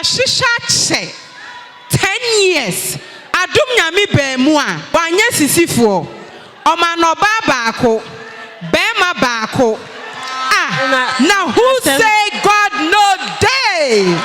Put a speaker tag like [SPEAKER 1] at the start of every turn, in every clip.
[SPEAKER 1] Yɛahyehyɛ akyɛ 10 years adom nyame baamu a wanyɛ sisifoɔ ɔma no ɔbaa baako bɛɛma baako ah na who say God
[SPEAKER 2] no dey.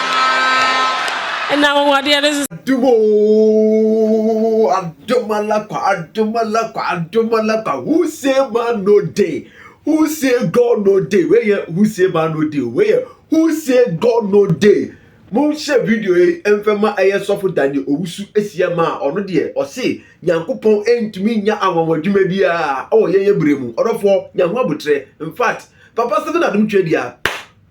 [SPEAKER 2] Adom oo
[SPEAKER 3] adom alakwa adom alakwa adom alakwa who say man no dey who say God no dey wei nyɛ who say man no dey o wei yɛ Who say God no dey? Mo nhyɛ video yi mfɛ ma ɛyɛ sɔfo Daniel Owusu Asiam a ɔno deɛ ɔse Nyankopɔn ntumi nya anwanwa adwuma biara wɔ yɛn yɛ berɛ mu. Ɔdɔfoɔ nya ho aboterɛ. In fact, Papa Stephen Adom Twedia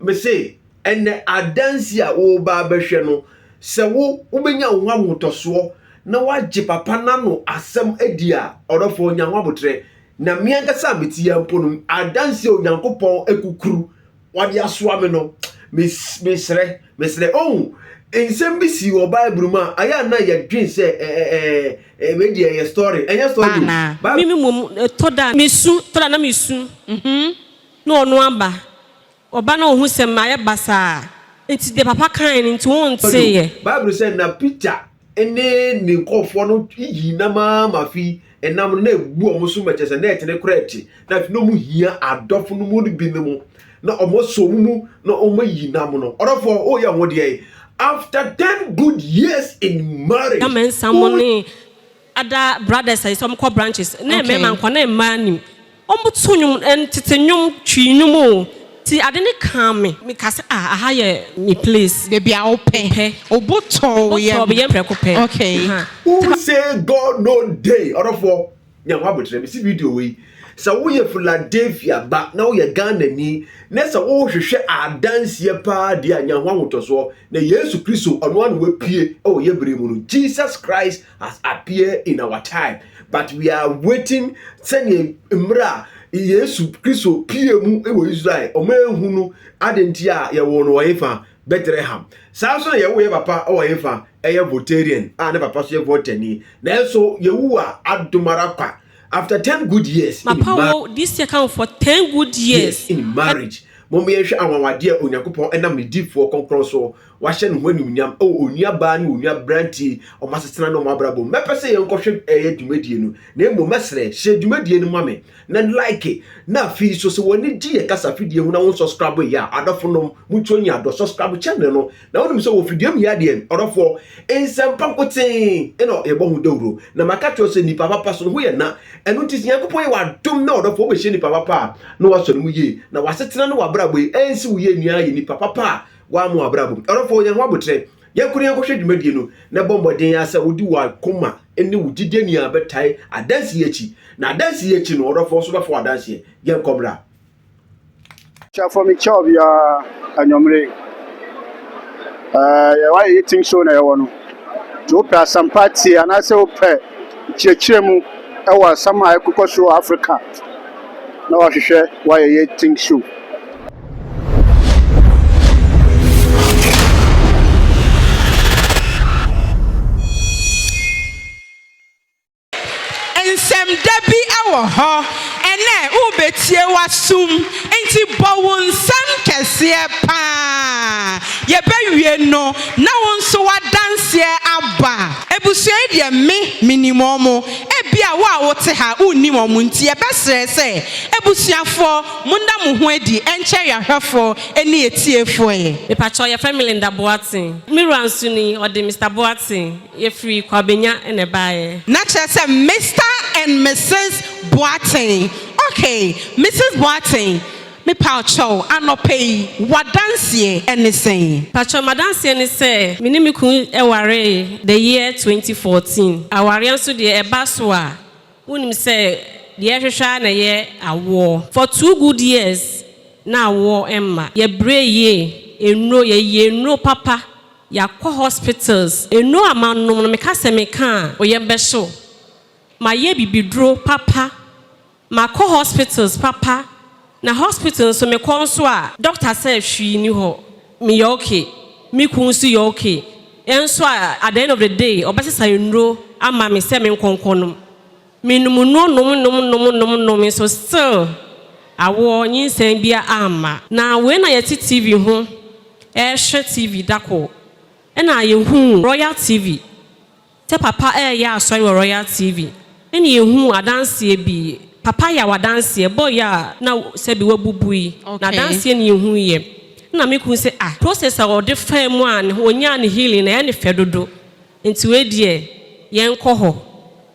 [SPEAKER 3] mese ɛnɛ adansi a woba abɛhwɛ no sɛ wo wobɛnya wo ho ahotɔsoɔ na wagye Papa n'ano asɛm adi a ɔdɔfoɔ nya ho aboterɛ. Na me ankasa a mete yɛ mpo no adansi a Onyankopɔn akukuru wɔde asoa me no mesrɛ mesrɛ ɔhu nsɛm bi si wɔ bible mu a ayɛ a na yɛdwen sɛ ɛbɛ deɛ ɛyɛ story ɛnyɛ story mi mi mom
[SPEAKER 2] ɛtɔ da mesu tɔ da na mesu mhm. na ɔno aba ɔba na ɔhu sɛ mayɛ basaa nti deɛ papa kan no nti wonteeɛ bible sɛ na
[SPEAKER 3] peter ne ne nkurɔfoɔ no yii nam ara ma afei ɛnam no na ɛbu wɔn so ma kyerɛ sɛ na ɛtene kora ɛte na afei na wɔn hia adɔfo no mu bi no mu na wɔn asɔ wɔn mu na wɔn ayi nam no ɔdɔfoɔ o yɛ ho deɛ after ten good years in marriage. na mɛnsa mo ne
[SPEAKER 2] ada brothers ayi sɛ wɔn kɔ branches na mmarima nkɔ na mmaa nim. Wɔto nnwom, tete nnwom, Twi nnwom o, nti ade no kaa me. Mekaa sɛ, ah, aha yɛ me place. Baabi a wopɛ. Mepɛ.
[SPEAKER 1] Wo bo tɔ wo yam. Wo bo tɔ me yam prɛko pɛ. Okay.
[SPEAKER 2] Aha.
[SPEAKER 1] Who say
[SPEAKER 3] God no dey? Ɔdɔfoɔ, nya ho aboterɛ. Mesi video wei, sɛ woyɛ Philadelphia ba na woyɛ Ghanani na sɛ worehwehwɛ adanseɛ paa deɛ a, nya ho ahotɔsoɔ. Na Yesu Kristo, ɔno ara na wapue wɔ yɛn berɛ mu no. Jesus Christ has appear in our time but we are waiting sɛdeɛ mmerɛ a yesu kristo pie mu wɔ israel ɔma ɛhu no ade nti a yɛwɔ no ɔye fa bethlehem saa nso na yɛwo yɛ papa wɔ ye fa ɛyɛ votarian a ne papa so yɛ votani nanso yɛwu a adomara kwa after 10 good years papa wo this year
[SPEAKER 2] come for 10 good years in marriage
[SPEAKER 3] mom yɛnhwɛ anwanwadeɛ a onyankopɔn ɛnam ne difoɔ kɔnkrɔn so Wɔahyɛ ne ho animuonyam wɔ onua baa ne onua brantie a wɔasetena ne wɔn abrabɔ mu. Mɛpɛ sɛ yɛnkɔhwɛ ɛyɛ dwumadie no, na mmom mɛsrɛ, hyɛ dwumadie no ma me, na like, na afei nso sɛ w'ani gye yɛ kasa fidie ho na wo nsɔskrabo yɛ a, adɔfo nom, mutuo nyɛ adɔ, sɔskrabo channel no, na wonim sɛ wɔ fidie mu yɛ adeɛ, ɔdɔfoɔ, nsɛmpa nkotee na yɛbɔ ho dawuro, na maka akyerɛ wo sɛ nnipa papa so no ho yɛ na, ɛno nti sɛ Nyankopɔn yɛ wo adom na ɔdɔfoɔ wobɛhyia nnipa papa a, na wasɔ ne mu yie, na w'asetena ne w'abrabɔ yi ansi wo yie nua ayɛ nnipa papa a Woamma w'abrabɔ mu. Ɔdɔfo, nya ho aboterɛ. Yɛn koro yɛn nkɔhwɛ dwumadie no, na bɔ mmɔden ara sɛ wode w'akoma ne wo gyidie nyinaa bɛtae adanse yi akyi. Na adanse yi akyi no, ɔdɔfo, wo nso bɛfa w'adanseɛ. Yɛnkɔ mmra.
[SPEAKER 4] Kyɛ fɔ me kyɛw biara anwummere. Ɛɛ, yɛwɔ ayɛ yɛtim so na yɛwɔ no. Nti wopɛ asɛmpa tie anaasɛ wopɛ nkyerɛkyerɛ mu wɔ asɛm a ɛkokɔ so wɔ Afrika na wahwehwɛ wayɛ yɛtim so.
[SPEAKER 1] Nsɛmda bi wɔ hɔ ɛnnɛ wobetie w'asom nti bɔ wo nsam kɛseɛ paa yɛbɛwie no na wo nso w'adanseɛ aba. Abusua yi deɛ me menim wɔn, ebia wo a wote ha wonnim wɔn nti yɛbɛsrɛ sɛ abusuafoɔ Monda mo ho adi nkyɛre ahwɛfoɔ ne atiefoɔ ɛ. Mepakyɛw yɛfrɛ me Linda
[SPEAKER 2] Boateng. Me wura nso ni, ɔde Mister Boateng. Yɛfiri Kwabenya na ɛbaeɛ. Na kyerɛ sɛ
[SPEAKER 1] Mister and Misis Boateng. Ok, Misis Boateng, mepakyɛw anɔpa yi w'adanseɛ ne sɛn? Pakyɛw m'adanseɛ
[SPEAKER 2] ne sɛ, me ne me kunu waree the year twenty fourteen. Awareɛ nso deɛ ɛba so a, Wonim sɛ deɛ yɛhwehwɛ ara na ɛyɛ awoɔ. For two good years na awoɔ mma. Yɛbrɛ yie, nnuro, yɛyɛ nnuro papa, yɛakɔ hospitals, nnuro a manom no meka sɛ meka a oyam bɛhye wo. Mayɛ bibiduro papa, makɔ hospitals papa. Na hospital nso me kɔ nso a doctor sɛ hwii ni hɔ me yɛ ok me kun nso yɛ ok nso a at the end of the day ɔbɛsesa nnuro ama me sɛ me nkɔ nkɔ nom me nom nnuro nom nom nom nom nom nso still awoɔ nyinsɛn bia amma. Na wei na yɛte TV ho ɛrehwɛ TV dakoro ɛna yɛhuu Royal TV. Sɛ papa reyɛ asɔre wɔ Royal TV ne yɛhuu adanseɛ bi. Papa yɛ adanseɛ bɔ yɛ a na sɛbi wabubu yi. Okay. Na adanseɛ ne yɛhuu yɛ. Ɛna me kunu sɛ ah process a ɔde faa mu a ɔnyaa ne healing no ɛyɛ ne fɛ dodo. Nti wei deɛ yɛnkɔ hɔ.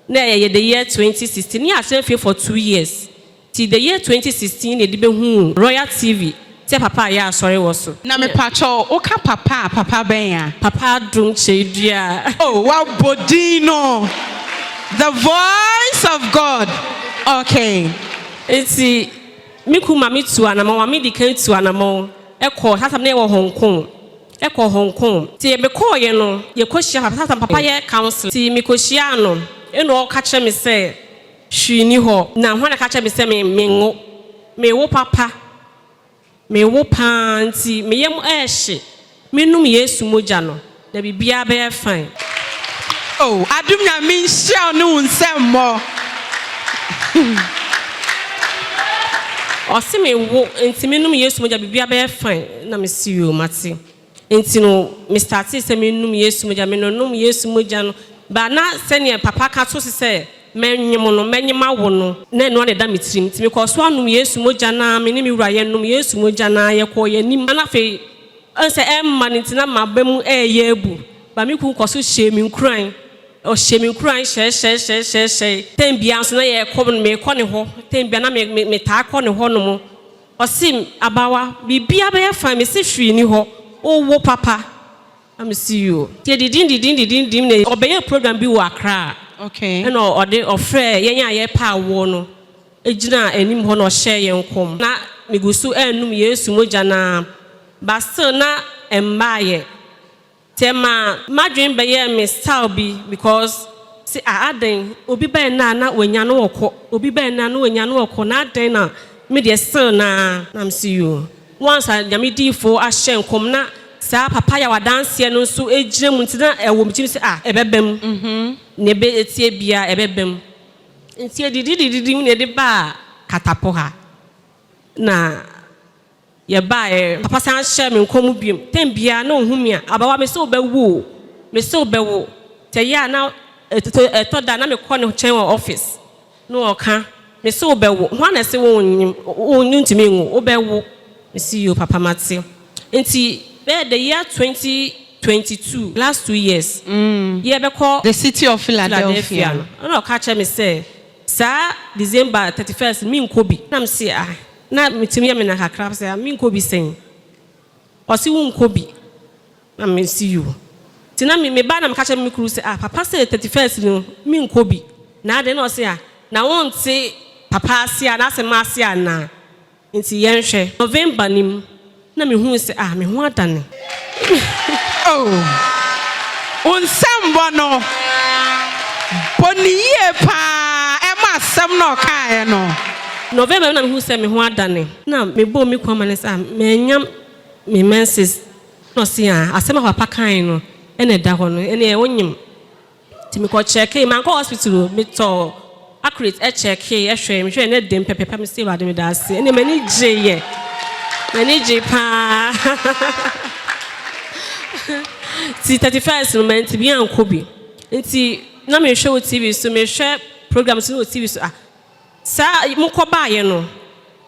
[SPEAKER 2] Na ɛyɛ the year 2016. Ne yɛatena fie for two years. Till the year twenty sixteen na yɛde bɛhuu Royal TV sɛ Papa ayɛ asɔre wɔ so. Na mepakyɛw,
[SPEAKER 1] woka Papa a, Papa bɛn a? Papa Adom
[SPEAKER 2] Kyeredua. Oh, woabɔ
[SPEAKER 1] din no! The voice of God, okay. Nti,
[SPEAKER 2] me kun ma me tuu anamɔn, ma me di kan tuu anamɔn kɔɔ, saa tam no yɛwɔ Hong Kong, ɛkɔɔ Hong Kong. Nti yɛbɛkɔɔeɛ no, yɛkɔhyiaa Papa, saa tam Papa yɛ counselling. Nti mekɔhyiaa no, ɛna ɔka kyerɛ me sɛ. Hwee nni hɔ. Na hwan na ɛka kyerɛɛ me sɛ me, menwo? Mewo papa. Mewo pa ara nti me yam rehye. Menom Yesu mogya no, na biribiara bɛyɛ fine. Oh,
[SPEAKER 1] adom Nyame nhyira wo ne wo nsɛmmɔ.
[SPEAKER 2] Ɔse me wo nti menom Yesu mogya biribiara bɛyɛ fine. Na mese yoo, mate. Nti no me startee sɛ me nom Yesu mogya, me nonom Yesu mogya no baa na sɛdeɛ papa ka to se sɛ mɛ nyem no, mɛ nyem awo no, na ɛno ara na ɛda me tirim, nti me kɔɔ so anom Yesu mogya no ara, me ne me wura yɛ nom Yesu mogya no ara, yɛ kɔɔ yɛ anim, na afei ɛhu sɛ ɛmma no nti na maba mu ɛɛyɛ abu, but me kunu kɔ so hyɛɛ me nkuran, ɔhyɛɛ me nkuran hyɛɛhyɛɛhyɛɛhyɛɛhyɛɛe, time biara nso na yɛ kɔ, me kɔ ne hɔ, time biara na me me me taa kɔ ne hɔ nom. Ɔse me, Abawa, biribiara bɛyɛ fine, mese hwee ni hɔ, wowo papa. Na mese yoo. Nti ɛdidimdidimdidimdim na ɔbɛyɛɛ program bi wɔ Accra ɛna
[SPEAKER 1] ɔde ɔfrɛɛ
[SPEAKER 2] yɛn a yɛrepɛ awoɔ no gyinaa anim hɔ na ɔhyɛɛ yɛn nkɔm. Na megu so ɛrenom Yesu mogya no ara but still na ɛmmaeɛ. Tɛ maa madwen bɛyɛɛ me style bi because se ah adɛn obi bɛɛ nnɛ a na wanya no ɔkɔ obi bɛɛ nnɛ a na wanya no ɔkɔ na adɛn na me deɛ still naa. Na me se yoo once a Nyame diifoo ahyɛ nkɔm na saa papa yaw adanseɛ no nso gyina mu nti na ɛwɔ me tirim se ah ɛbɛba mu nea ɛbɛ ɛteɛ biaa ɛbɛba mu nti ɛdididididi mu na ɛde baa Katapɔ ha na Yɛbaeɛ. Papa san hyɛɛ me nkɔm mu biom. Tɛm biara na ɔhu me a, Abawa, mese wobɛwo o, mese wobɛwo. Tɛ ɛyɛ a na ɛtɔ da a na mekɔ ne kyɛn wɔ ɔfis, na ɔka, mese wobɛwo, hwan na ɛse wonnyem, wontumi nwo, wobɛwo. Mese yoo papa mate. Nti bɛyɛ the year twenty twenty two, last two years, yɛrebɛkɔ The city of Philadelphia
[SPEAKER 1] no, ɛna ɔka kyerɛ me
[SPEAKER 2] sɛ saa December thirty first menkɔ bi, na mese ah. Na metumi yɛ me nan kakra sɛ ah menkɔ bi sɛn ɔse wonkɔ bi na mese yoo nti na me meba na meka kyerɛ me kuru sɛ ah papa sɛ thirty first no menkɔ bi na adɛn na ɔse ah na wonte papa ase a n'asɛm ase anaa nti yɛnhwɛ November no mu Na mehuu sɛ, ah, me ho adane.
[SPEAKER 1] Oh, wo nsɛmmɔ no bɔ no yie pa ara, ɛma asɛm no a ɔkaeɛ no. November bi na mehuu
[SPEAKER 2] sɛ me ho adane. Na mebɔɔ me kunu amanneɛ sɛ, ah, mannya me menses. Ɛnna ɔse, ah, asɛm a papa kae no na ɛda hɔ no, ɛnneɛ wonyem. Nti me kɔ kyɛkee, mankɔ hospital o, me tɔɔ accurate ɛkyɛkee ɛhwɛɛ, me hwɛɛ ne dem pɛpɛpɛ, me se Awurade meda ase, ɛnneɛ m'ani gyeeɛ, m'ani gyee paa. Nti 31st no mantumi ankɔ bi, nti na mehwɛ wɔ TV so, mehwɛ program so no wɔ TV so, ah, saa mokɔ baayɛ no,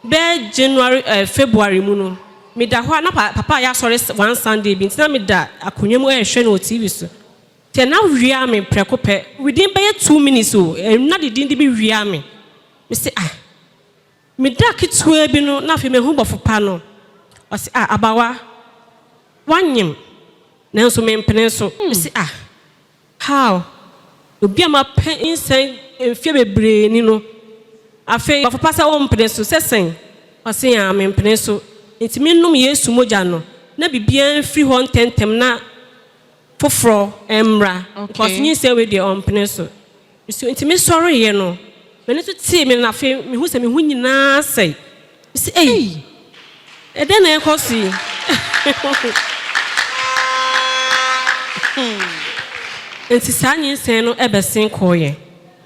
[SPEAKER 2] bɛɛ January eh, February mu no, meda hɔ a na papa ayɛ asɔre one Sunday bi, nti na meda akonnwa mu ɛrehwɛ no wɔ TV so. Tɛ na wiaa me prɛko pɛ within bɛyɛ two minutes o ɛm na de din de bi wiaa me me se ah me da ketewa bi no na afei mahu bɔfo pa no ɔse ah abawa wanyem nanso me mpene so me se ah how obi a mapɛ nsɛn mfeɛ bebree ni no afei bɔfo pa sɛ wompene so sɛ sɛn ɔse ah me mpene so nti me nom Yesu mogya no na biribiara mfiri hɔ ntɛntɛm na foforɔ mmra cos nyinsɛn wei deɛ ɔmpene so nso nti me sɔreeɛ no m'ani nso tee me na afei me hu sɛ me ho nyinaa asɛe me si ei ɛdɛn na ɛkɔ so yi nti saa nyinsɛn no ɛbɛsen kɔɔyɛ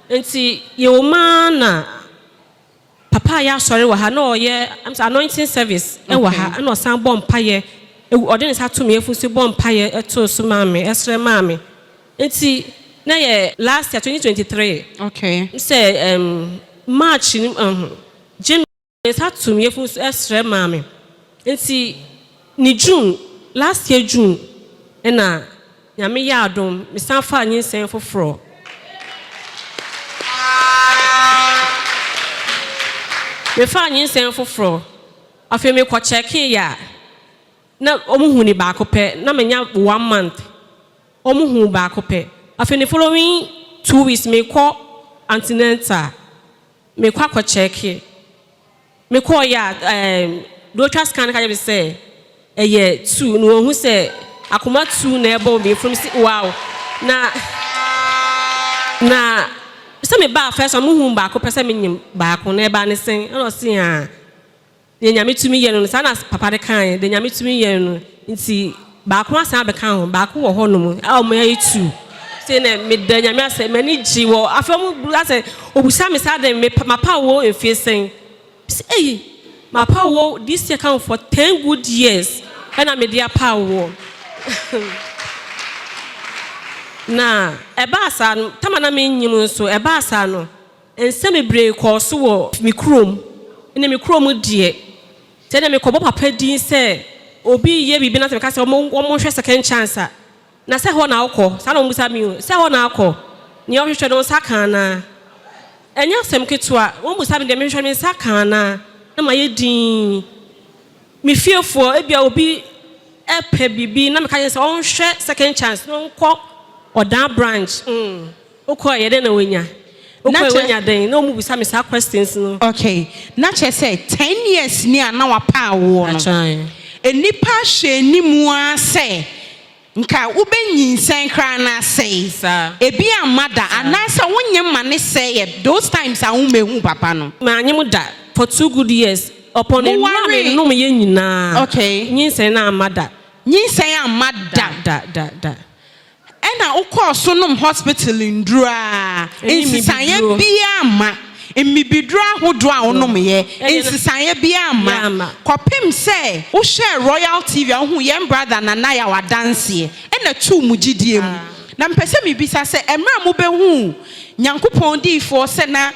[SPEAKER 2] nti yɛwɔ maa na Papa a yɛ asɔre wɔ ha na ɔyɛ anointing service wɔ ha na ɔsan bɔ mpaeɛ ɔde ne nsa to me yɛfu so bɔ mpaeɛ to so maa me ɛsrɛ maa me nti na yɛ last year twenty
[SPEAKER 1] twenty
[SPEAKER 2] three okay sɛ ɛm march ni ɛho January ne nsa to me yɛfu so ɛsrɛ maa me nti Ne June, last year June na Nyame yɛɛ adom me san faa nyinsɛn foforɔ. Me faa nyinsɛn foforɔ, afei me kɔ kyɛkee yɛ a, na ɔmo hu ne baako pɛ, na me nya one month, ɔmo hu baako pɛ, afei ne following two weeks me kɔ antenatal, me kɔ akɔ kyɛkee. Me kɔɔ yɛ a ehm deɛ ɔtwa scan no ka kyerɛ me sɛ ɛyɛ two na wɔhu sɛ akoma two na ɛbɔ me mfunu me se wow na na sɛ me baa first one mo hu baako pɛ sɛ me nyem baako na ɛbaa ne sɛn ɛna ɔse haa deɛ nyame tumi yɛ no no saa na papa no kaeɛ deɛ nyame tumi yɛ no no nti Baako asan abɛka ho, baako wɔ hɔ nom a ɔmo yɛ two. Sei nɛ meda Nyame ase m'ani gye wɔ afei ɔmo bu asɛ obisa me sɛ adɛn me pa mapaw wo mfie sɛn? Me se ei mapaw wo this year ka ho for ten good years ɛna mede apaw woɔ na ɛbaa saa no tam a na mennyim nso ɛbaa saa no Nsɛm bebree kɔɔ so wɔ me kurom ne me kurom deɛ. Sɛ na mekɔbɔ papa din sɛ obi reyɛ biribi na sɛ meka sɛ wɔnhwɛ second chance a, na sɛ hɔ na wokɔ? Saa na wɔbisa me o. Sɛ hɔ na akɔ? Nea ɔhwehwɛ no, wo nsa ka anaa? Ɛnyɛ asɛm ketewa. Wɔbisa me deɛ mehwehwɛ no, me nsa ka anaa? Na mayɛ dinn. Me fiefoɔ, ebia obi repɛ biribi na meka kyerɛ no sɛ ɔnhwɛ second chance na ɔnkɔ Ɔdan branch. Mm. Wokɔɛ yɛ dɛn na wanya? Wokɔɛ wanya dɛn? Na ɔmo bisa me saa questions no. Okay, na kyerɛ sɛ
[SPEAKER 1] ten years ni a na wapa awoɔ no, nnipa hwɛ anim ara sɛ nka wobɛ nyinsɛn koraa na asɛe, ebi amma da anaa sɛ wo nyem ma ne sɛeɛ those times a wo mmɛhuu papa no? Ma nyem da
[SPEAKER 2] for two good years, upon nnuro a me nom yɛ nyinaa, nyinsɛn no
[SPEAKER 1] amma da.
[SPEAKER 2] Nyinsɛn amma
[SPEAKER 1] da. Da da da da.
[SPEAKER 2] Ɛna
[SPEAKER 1] wokɔɔ so nom hospital nnuru a nsesaeɛ biara mma, mmibiduro ahodoɔ a wonomyɛ, nsesaeɛ biara mma, kɔpem sɛ wohwɛɛ Royal TV a wohuu yɛn brother Nana Yaw adanseɛ, ɛna tuu mo gyidie mu. Na mepɛ sɛ mebisa sɛ, ɛmerɛ a mobɛhuu Nyankopɔn diyifoɔ sɛ na.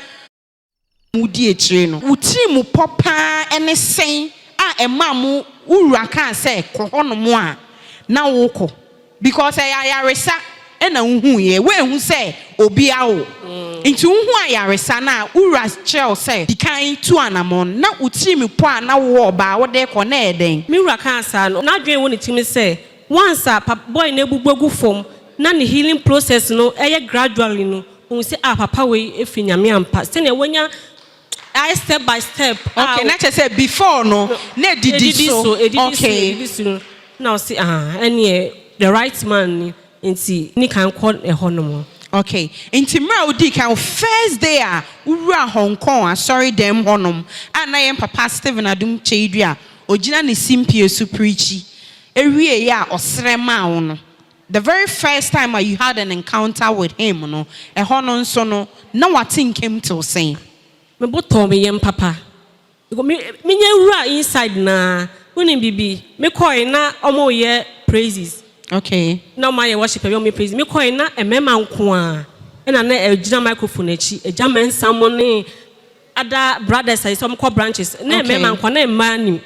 [SPEAKER 1] na wodi akyire no. Wo tirimupɔ pa ara ne sɛn a ɛmaa mo wo wura kaa sɛ kɔ hɔnom a na wokɔ because ɛyɛ ayaresa na wohuuiɛ, woanhu sɛ obi awo nti wohuu ayaresa no a wo wura kyerɛɛ wo sɛ di kan tu anamɔn, na wo tirimupɔ a na wowɔ baa wode rekɔ no ɛyɛ dɛn? Me wura kaa saa no,
[SPEAKER 2] n'adwene wɔ ne tirim sɛ Once a papa boy no abubu agu fam na ne healing process no yɛ gradually no, ohu sɛ ah papa wei ɛfiri Nyame ampa. Sɛnea wanya ayɛ step by step a. Okay, na kyerɛ sɛ
[SPEAKER 1] before no na ɛdidi so. Ɛdidi so, ɛdidi so no
[SPEAKER 2] na ɔse ah ɛneɛ the right man ni nti di kan kɔ ɛhɔ nom. Okay, nti
[SPEAKER 1] mmerɛ a wodii kan, wo first day a wowuraa Hong Kong asɔre dɛm hɔ nom a na yɛn papa Stephen Adum Kyei-Duah ɔgyina ne simpie so preachi ewiei a ɔsrɛ maa wo no, the very first time a you had an encounter with him no, ɛhɔ no nso no, na w'ate nkem tew sɛn? Me bo tɔɔ
[SPEAKER 2] me yam papa because me menya wuraa inside no ara, wonim biribi, me kɔe na wɔreyɛ praises, Okay. na
[SPEAKER 1] wɔayɛ worship awie
[SPEAKER 2] a wɔreyɛ praises, me kɔe na mmarima nko ara na na ɛgyina microphone akyi, agya mɛnsa mo ne ada brothers ayi sɛ ɔmo kɔ branches ne mmɛɛma nko ne mmaa nim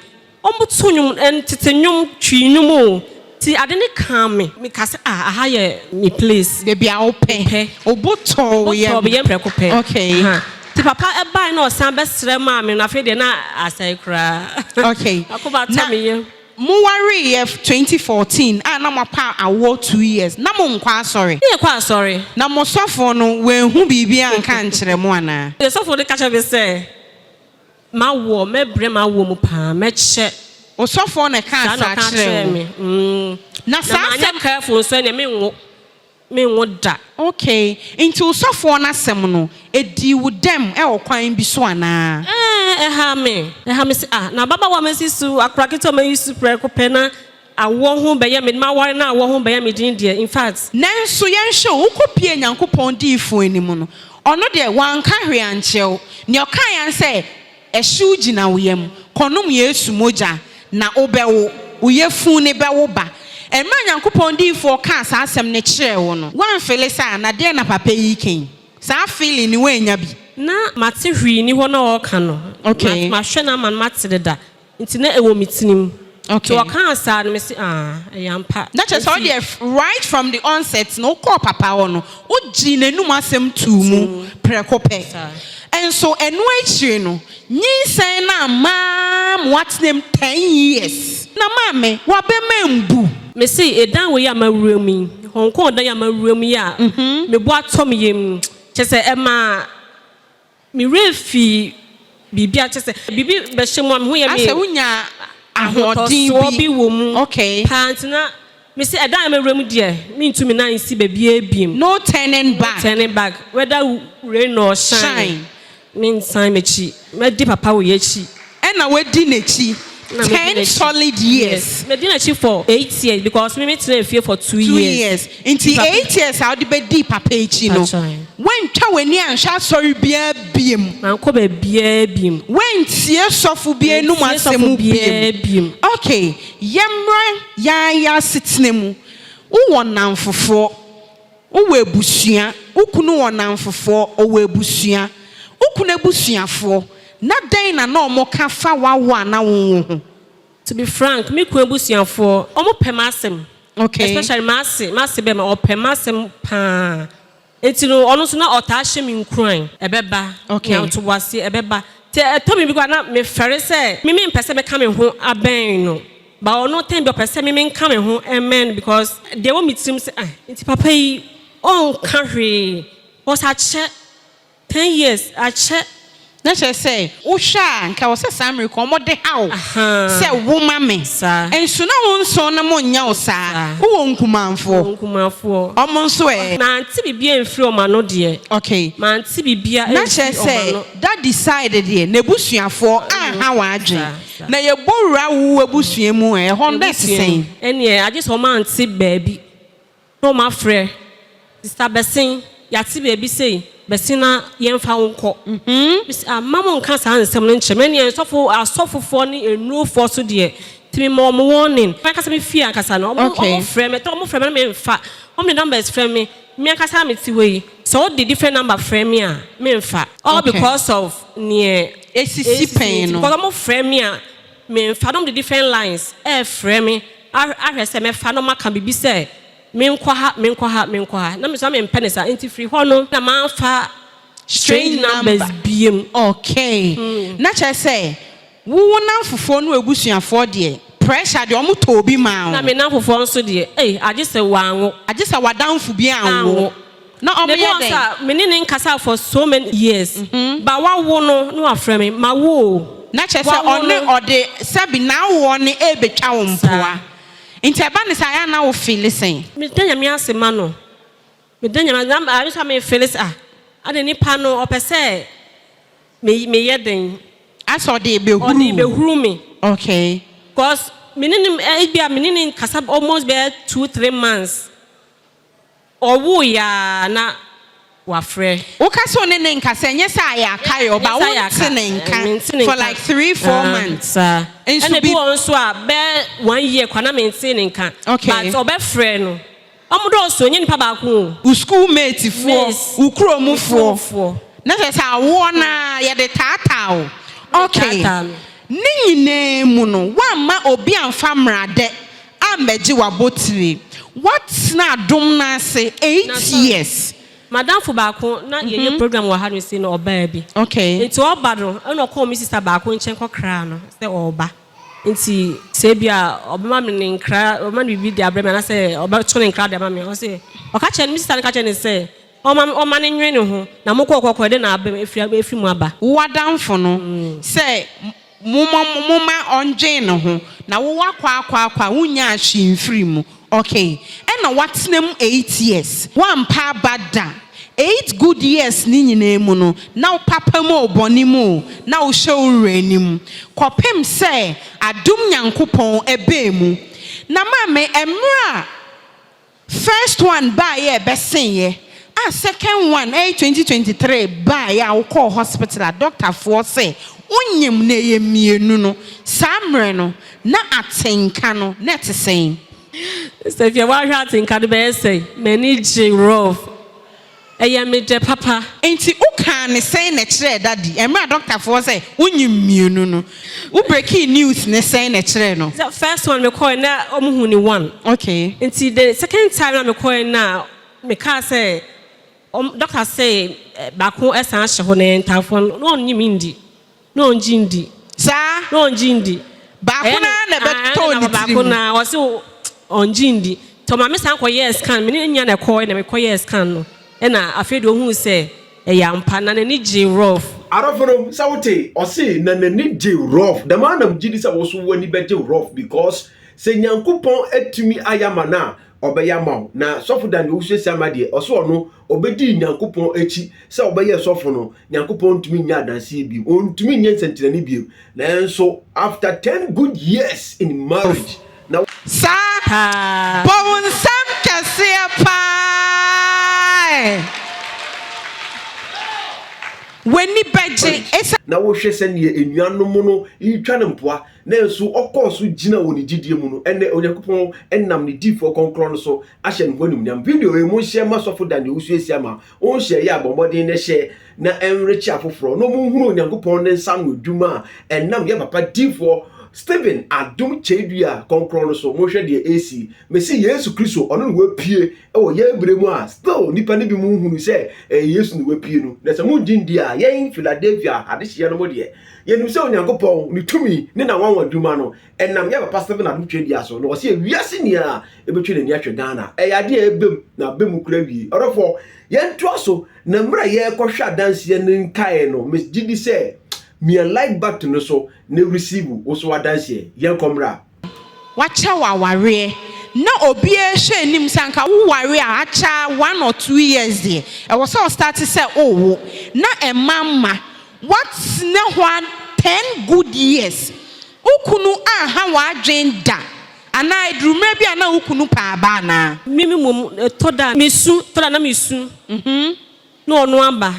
[SPEAKER 2] ɔmo to nnwom tete nnwom twi nnwom o ti ade ne kaa me me ka sɛ ah aha yɛ me place baabi a wo pɛ
[SPEAKER 1] obo tɔɔ wo yɛ me yɛ mprɛko pɛ okay
[SPEAKER 2] ha
[SPEAKER 1] ti papa
[SPEAKER 2] ɛbae na ɔsan bɛsrɛ maa me no afei deɛ na asɛe koraa okay akoma
[SPEAKER 1] atɔ me yɛ.
[SPEAKER 2] Mo waree yɛ twenty
[SPEAKER 1] fourteen a na mo apa awoɔ two years na mo nkɔ asɔre. Ne yɛ kɔ asɔre.
[SPEAKER 2] Na mo sɔfo
[SPEAKER 1] no wanhu biribi anka ankyerɛ mo anaa? Ne sɔfo no ka kyerɛ me
[SPEAKER 2] sɛ mawoɔ mɛbrɛ mawoɔ mu paa mɛkyɛ. Osɔfoɔ na ɛkaa
[SPEAKER 1] saa kyerɛɛ wo. Saa na ɔkaa kyerɛɛ me mm na manyɛ careful nso ɛneɛ
[SPEAKER 2] menwo. menwo da. Okay, nti
[SPEAKER 1] wo sɔfoɔ no asɛm no, ɛdii wo dɛm wɔ kwan bi so anaa? Ɛɛ, ɛha me.
[SPEAKER 2] Ɛha me sɛ, ah, na ababaawa a masi so, akora ketewa a mayi so prɛko pɛ na awoɔ ho bɛyɛ me, m'aware na awoɔ ho bɛyɛ me den deɛ, in fact. Nanso yɛnhwɛ o,
[SPEAKER 1] wokɔpuee Nyankopɔn diyifoɔ anim no, ɔno deɛ, wanka hwee ankyerɛ wo. Nea ɔkaeɛ ara ne sɛ, Ɛhyew gyina wo yam. Kɔnom Yesu mogya na wobɛwo. Wo yafunu no bɛwo ba. Mmerɛ a Nyankopɔn diyifoɔ kaa saa asɛm no kyerɛɛ wo no, woanfele saa? Na deɛn na papa yi reka yi? Saa feeling no woannya bi? Na mate
[SPEAKER 2] hwee nni hɔ na ɔreka no. Okay. Mahwɛ no
[SPEAKER 1] ama no mate
[SPEAKER 2] deda nti na ɛwɔ me tirim. Okay. So ɔkaa
[SPEAKER 1] saa no
[SPEAKER 2] me se ah ɛyɛ ampa. Na kyerɛ sɛ wo deɛ
[SPEAKER 1] right from the onset no wokɔɔ papa hɔ no wogyee n'anum asɛm too mu prɛko pɛ. Nso ɛno akyire no nyinsɛn no amma ma woatena mu ten years. Na maame w'abam ambu. Me se ɛdan
[SPEAKER 2] wei a mawura mu yi, Hong Kong dan yi a mawura mu yi a mebɔ atɔ me yam yi, kyerɛ sɛ ɛmaa Me werɛ fii biribi a kyerɛ sɛ biribi bɛhyɛ mu a me ho yɛ me. Asɛ wonya
[SPEAKER 1] ahoɔden bi. Ahotosoɔ bi wɔ mu.
[SPEAKER 2] Okay. Paa nti na me se ɛda a me werɛ mu deɛ me ntu me nan nsi baabiara biom. No turning back. No
[SPEAKER 1] turning back whether
[SPEAKER 2] rain or shine. Shine. Me nsan m'akyi mɛdi papa wɔ y'akyi. Ɛna wadi
[SPEAKER 1] n'akyi ten solid years. Yes medi n'akyi for
[SPEAKER 2] eight years because me me tenaa fie for two years. Two years nti eight
[SPEAKER 1] years a wode bɛ di papa akyi no wantwa w'ani anhwɛ asɔre biara biem. Mankɔ baabiara
[SPEAKER 2] biem. Wantie
[SPEAKER 1] sɔfo biara anum asɛm biem. Okay yɛmmra yɛn ara yɛn asetena mu wowɔ nnamfofoɔ. Wowɔ abusua, wo kunu wɔ nnamfofoɔ, ɔwɔ abusua, wo kunu abusuafoɔ, na dɛn na na wɔka fa w'awo a na wonwo ho? To be frank,
[SPEAKER 2] me kunu abusuafoɔ, wɔpɛ m'asɛm, especially
[SPEAKER 1] m'ase, m'ase
[SPEAKER 2] bɛma, ɔpɛ m'asɛm pa ara, nti no ɔno nso na ɔtaa hyɛ me nkuran, ɛbɛba, nya ntoboaseɛ,
[SPEAKER 1] ɛbɛba,
[SPEAKER 2] nti ɛtɔ me bi koraa na mefɛre sɛ me mempɛ sɛ mɛka me ho abɛn no, But ɔno time bi ɔpɛ sɛ me menka me ho mmɛn no because deɛ ɛwɔ me tirim sɛ ah nti papa yi ɔnka hwee because akyɛ ten years akyɛ. Na kyerɛ sɛ
[SPEAKER 1] wohwɛ a nka ɛwɔ sɛ saa mmerɛ kɔ wɔn de ha wo sɛ wo ma me nso na wo nso no mo nyɛ wo saa wo wɔ nkumanfoɔ wɔn nso ɛ. Mante biribiara
[SPEAKER 2] mfiri wɔn ano deɛ. Okay. Mante
[SPEAKER 1] biribiara mfiri
[SPEAKER 2] wɔn ano. Na kyerɛ sɛ
[SPEAKER 1] daddy side deɛ n'abusuafoɔ anha wɔn adwene. Na yɛbɔ wura wo abusua mu ɛ, ɛhɔ no dɛ te sɛn? Ɛneɛ agye sɛ
[SPEAKER 2] ɔmante baabi na ɔmafrɛ sista Bɛsen, yɛate baabi sei, Bɛsen na yɛmfa wo nkɔ. Mese ah, mma monka saa nsɛm no nkyerɛ me, ɛneɛ nsɔfo, asɔfofoɔ ne nnurofoɔ nso deɛ, nti mema wɔn warning. M'ankasa me fie ankasa no, wɔn, wɔn frɛ me, ɛtɔ wɔn frɛ me na memfa, wɔn de numbers frɛ me, me ankasa a mete hɔ yi, sɛ wɔde different number frɛ me a, memfa, all because of neɛ. esisi pɛn
[SPEAKER 1] no. Because ɔmo frɛ me a
[SPEAKER 2] me nfa no, ɔmo de different lines ɛɛfrɛ me ahwɛ sɛ mɛfa na ɔmo aka biribi sɛ me nkɔ ha, me nkɔ ha, me nkɔ ha. Na me nso na me mpɛ no saa, nti firi hɔ no na manfa strange numbers biom. Okay,
[SPEAKER 1] na kyerɛ sɛ wo wo namfofoɔ ne w'abusuafoɔ deɛ pressure deɛ ɔmo tɔ obi maa wo. Na me namfofoɔ nso
[SPEAKER 2] deɛ ei agye sɛ wanwo. Agye sɛ
[SPEAKER 1] w'adamfo bi anwo. Na ɔmo yɛ dɛn? Mebɔɔ nsa, me ne no nkasaa
[SPEAKER 2] for so many years, but wawo no na wafrɛ me, mawo o, Na kyerɛ sɛ wawo ɔne
[SPEAKER 1] no. ɔde sɛbi n'awoɔ no ɛrebɛtwa wo mpoa. Saa. Nti ɛba no saa a na wo feeli sɛn? Meda Nyame ase
[SPEAKER 2] ma no, meda Nyame ase, na ayɛ nso a me feeli sɛ ah, adɛn nipa no ɔpɛ sɛ me me yɛ dɛn, Ayɛ sɛ ɔde
[SPEAKER 1] rebɛhuru ɔde wo. rebɛhuru me,
[SPEAKER 2] Okay.
[SPEAKER 1] cos
[SPEAKER 2] me ne no, ebi a me ne no nkasa almost bɛyɛ two, three months, Ɔwooeɛ ara na wafrɛ. Woka sɛ ɔne ne
[SPEAKER 1] nka sɛ ɛnyɛ sɛ ayɛ aka yɛ ɔba wonte ne nka for like three four months nso bi. Ɛna bi wɔ hɔ
[SPEAKER 2] nso a bɛ one year koraa na mentee ne nka but ɔbɛfrɛ no ɔmo dɔɔso ɛnyɛ nipa baako o. Wo school mate
[SPEAKER 1] foɔ, wo kurom foɔ na kyerɛ sɛ awoɔ no ara yɛde taataa wo okay ne nyinaa mu no woamma obi amfa mmradɛ Ammɛgye w'abotire. Woatena adom no ase eight years. M'adamfo baako
[SPEAKER 2] na yɛyɛ program wɔ ha no sei na ɔbaa bi. Nti ɔba no
[SPEAKER 1] na
[SPEAKER 2] ɔkɔɔ me sista baako nkyɛn kɔkraa no sɛ ɔreba. Nti sɛ ebia ɔbɛma me ne nkra, ɔbɛma no biribi de abrɛ me anaasɛ ɔbɛto ne nkra de ama me. Ɔse ɔka kyerɛɛ no, me sista no ka kyerɛɛ no sɛ ɔmma me, ɔmma no nwene ne ho. Na mokɔɔ kɔkɔɔ, ɛdɛn na aba mu, afiri mu aba? W'adamfo no
[SPEAKER 1] sɛ. Momma momma ɔndwen ne ho, na wo wakɔ akɔ akɔ a wonnyaa hwee mfirii mu ok ɛna watena mu eight years wampa aba da eight good years no nyinaa mu no na wo papa mu o bɔne mu o na wohwɛ wo wura anim kɔpem sɛ adom Nyankopɔn ɛbaa mu na maame ɛmmerɛ a First one baeɛ a ɛbɛseeɛ a second one ɛyɛ twenty twenty three baeɛ a wokɔɔ hospital a doctor foɔ sɛ wonyem na ɛyɛ mmienu no saa mmerɛ no na atenka no na ɛte sɛn? Stephia,
[SPEAKER 2] Woahwɛ atenka no bɛyɛ sɛn? M'ani gyee rough. Ɛyɛ me dɛ papa. Nti wo kaa ne
[SPEAKER 1] sɛn na ɛkyerɛɛ daddy ɛmmerɛ a doctor foɔ sɛ wo nyim mmienu no wo breaking news no sɛn na ɛkyerɛɛ no. The first one me kɔɛ
[SPEAKER 2] na ɔmo hu ne one. Okay. Nti the
[SPEAKER 1] second
[SPEAKER 2] time na me kɔɛ na me kaa sɛ ɔmo doctor se baako ɛsan ahyɛ hɔ na yɛn ntaafoɔ no na ɔnnyim nndi. Na ɔngye ndi. Saa? Na
[SPEAKER 1] ɔngye ndi.
[SPEAKER 2] Baako no ara
[SPEAKER 1] na ɛbɛtɔ ne tiri mu. Na ɔse
[SPEAKER 2] ɔngye ndi. Nti ɔma me san kɔyɛɛ scan. Me ne no nya na ɛkɔɔe na mekɔyɛɛ scan no. Ɛna afei deɛ ɔhuu sɛ ɛyɛ ampa. Na n'ani gyee rough. Arɔfo no, sɛ wote?
[SPEAKER 3] Ɔse na n'ani gyee rough. Dɛm ara na megye di sɛ wo nso w'ani bɛgye rough because sɛ Nyankopɔn atumi ayɛ ama no a, Ɔbɛyɛ ama wo. Na Sɔfo Dan deɛ wosuasua ma deɛ, ɔse ɔno Ɔbɛdii Nyankopɔn akyi sɛ ɔbɛyɛ sɔfo no, Nyankopɔn ntumi nyɛ adanseɛ bio, ɔntumi nyɛ nsɛnkyerɛnne bio, nanso after ten good years in marriage na. Saa,
[SPEAKER 1] bɔwnsɛm kɛseɛ paa ɛ! W'ani bɛgye. Na wohwɛ sɛdeɛ
[SPEAKER 3] anuanom no retwa no mpoa, nanso ɔkɔɔ so gyina wɔ ne gyedie mu no, ɛnnɛ Onyankopɔn nam ne difoɔ krɔnkrɔn no so ahyɛ no hɔ animuonyam. Video yi mu nhyɛ mma sɔfo da nea wosuasua ma wo nhyɛ yɛ a bɔ mmɔden na hyɛ na ɛnrekye afoforɔ na wɔnhunu Onyankopɔn ne nsa ano adwuma a ɛnam yɛn papa difoɔ Stephen Adom Kyeedua kɔnkrɔn no so. Monhwɛ deɛ ɛresi. Mese Yesu Kristo, ɔno na wapue wɔ yɛn berɛ mu a still nnipa no bi mu nhunu sɛ ɛyɛ Yesu na wapue no. Na sɛ mongye ndi a, yɛn Philadelphia adehyeɛ no mu deɛ, yɛnim sɛ Onyankopɔn, ne tumi ne n'anwanwa adwuma no, ɛnam yɛ papa Stephen Adu Twedia so na ɔsɛ wiase nyinaa ɛbɛtwe n'ani ahwɛ Ghana ɛyɛ adeɛ a ɛbɛm na abɛmu kura wie ɔdɔfoɔ yɛntoa so na mmerɛ a yɛrekɔhwɛ adanseɛ no nkaeɛ no megye di sɛ mia like button no so na receive wo so adanseɛ yɛnkɔ mmra wakyɛ wo
[SPEAKER 1] awareɛ na obiara hyɛ anim sɛ anka wo ware a akyɛ one or two years deɛ ɛwɔ sɛ ɔstarte sɛ owo na ɛma mma woatena hɔ a ten good years Wo kunu anha w'adwene da? Anaa eduru mmerɛ bi a na wo kunu pɛ aba anaa? Me mmom ɛtɔ
[SPEAKER 2] da a mesu, ɛtɔ da a na mesu na ɔno aba.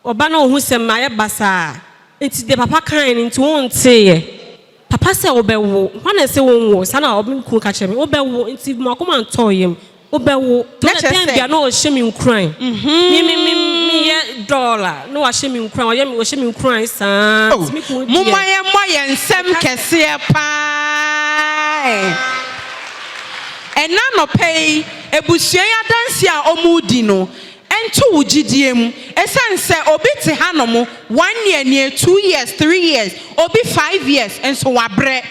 [SPEAKER 2] Ɔba na ɔhu sɛ mayɛ basaa nti deɛ papa kaeɛ no nti wonteeɛ. Papa sɛ wobɛwo, hwan na ɛsɛ sɛ wɔnwo? Saa na me kunu ka kyerɛ me, wobɛwo nti m'akoma ntɔɔ yam. Wobɛwo. Na kyerɛ sɛ. Dɛn na ɔhyɛ me nkuran? Me me me meyɛ dɔll a na wahyɛ me nkuran ɔyɛ me ɔhyɛ me nkuran saa Oh, nti me kunu deɛ momma yɛmmɔ yɛn
[SPEAKER 1] nsam meka sɛ. kɛseɛ paa ɛ. Ɛnnɛ anɔpa yi, abusua yi adanseɛ a wɔredi no nto wo gyidie mu. Ɛsiane sɛ obi te hanom one year nie, two years, three years, obi five years, nso wabrɛ.